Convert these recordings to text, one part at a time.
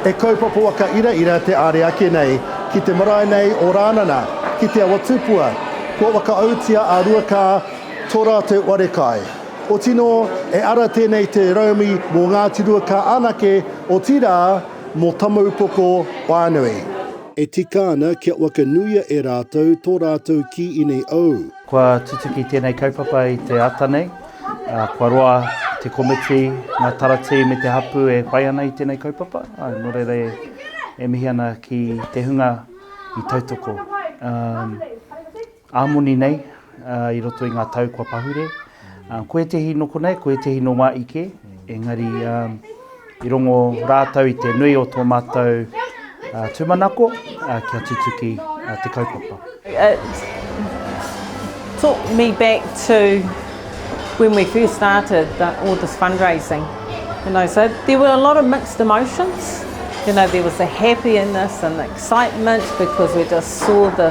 He kaupapa waka iraira te are ake nei ki te marae nei o Rānana, ki Te Awa Tupua. Kua whakaautia a Ruakā to rātou arekai. Otino e ara tēnei te raumi mo Ngāti Ruakā anake, otirā mo Tamaupoko whānui. E tika ana kia wakanuia e rātou to rātou kī inei ou. Kua tutuki tēnei kaupapa i te ata nei. Kua roa te komiti, ngā taratī me te hapū e whai ana i tēnei kaupapa. Nō reira e mihi ana ki te hunga i tautoko ā moni nei i roto i ngā tau kua pahure. Ko ētehi nō konei, ko ētehi nō wā ike, engari i rongo rātou i te nui o tō mātou tūmanako kia tutuki te kaupapa. It took me back to when we first started all this fundraising. You know, so there were a lot of mixed emotions. You know, there was the happiness and the excitement because we just saw the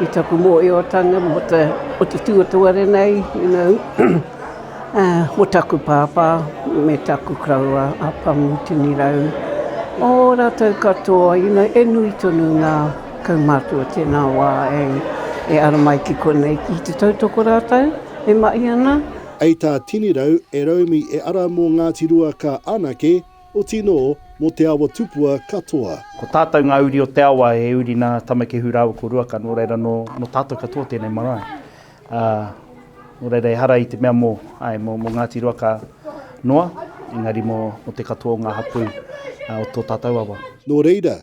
I taku mōhiotanga mō te, o te tuatoru nei, you know, mō taku pāpā me taku koroua a Pamu Tini Rau, ō rātou katoa, you know, e nui tonu ngā kaumātua tēnā wā e, e ara mai ki konei, ki te tautoko rātou e mahi ana. Ei tā Tini Rau, e Raumi e ara mō Ngāti Rua ka anake. Oti no, mo te awa tupua katoa. Ko tatou nga uri o te awa e uri na Tamakehu raua ko Ruaka no reira no no tatou katoa tenei marae. A, no reira ehara i te mea mo, ae, mo Ngati Ruaka noa, engari mo te katoa o nga hapu o to tatou awa. No reira,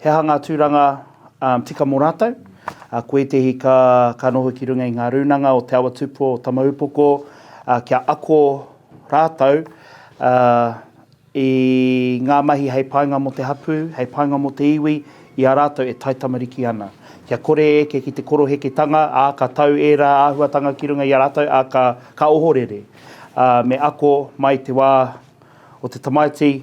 He aha ngā tūranga tika mō rātou? Ko ētehi ka noho ki runga i ngā rūnanga o Te Awa Tupua o Tamaupoko kia ako rātou i ngā mahi hei painga mō te hapū, hei painga mō te iwi i a rātou e taitamariki ana. Kia kore e eke ki te koroheketanga, ā, ka tau ērā āhuatanga ki runga i a rātou, ā, ka ohorere me ako mai te wā o te tamaiti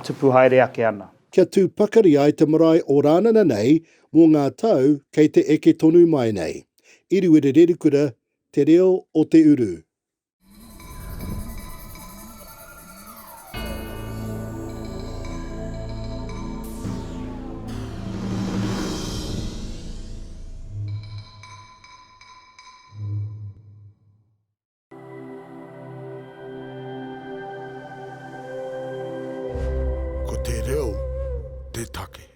tupu haere ake ana. kia tū pakari ai te marae o Rānana nei mō ngā tau kei te eke tonu mai nei. Iriwere Rerikura, Te Reo o te Uru. Ko te reo te take.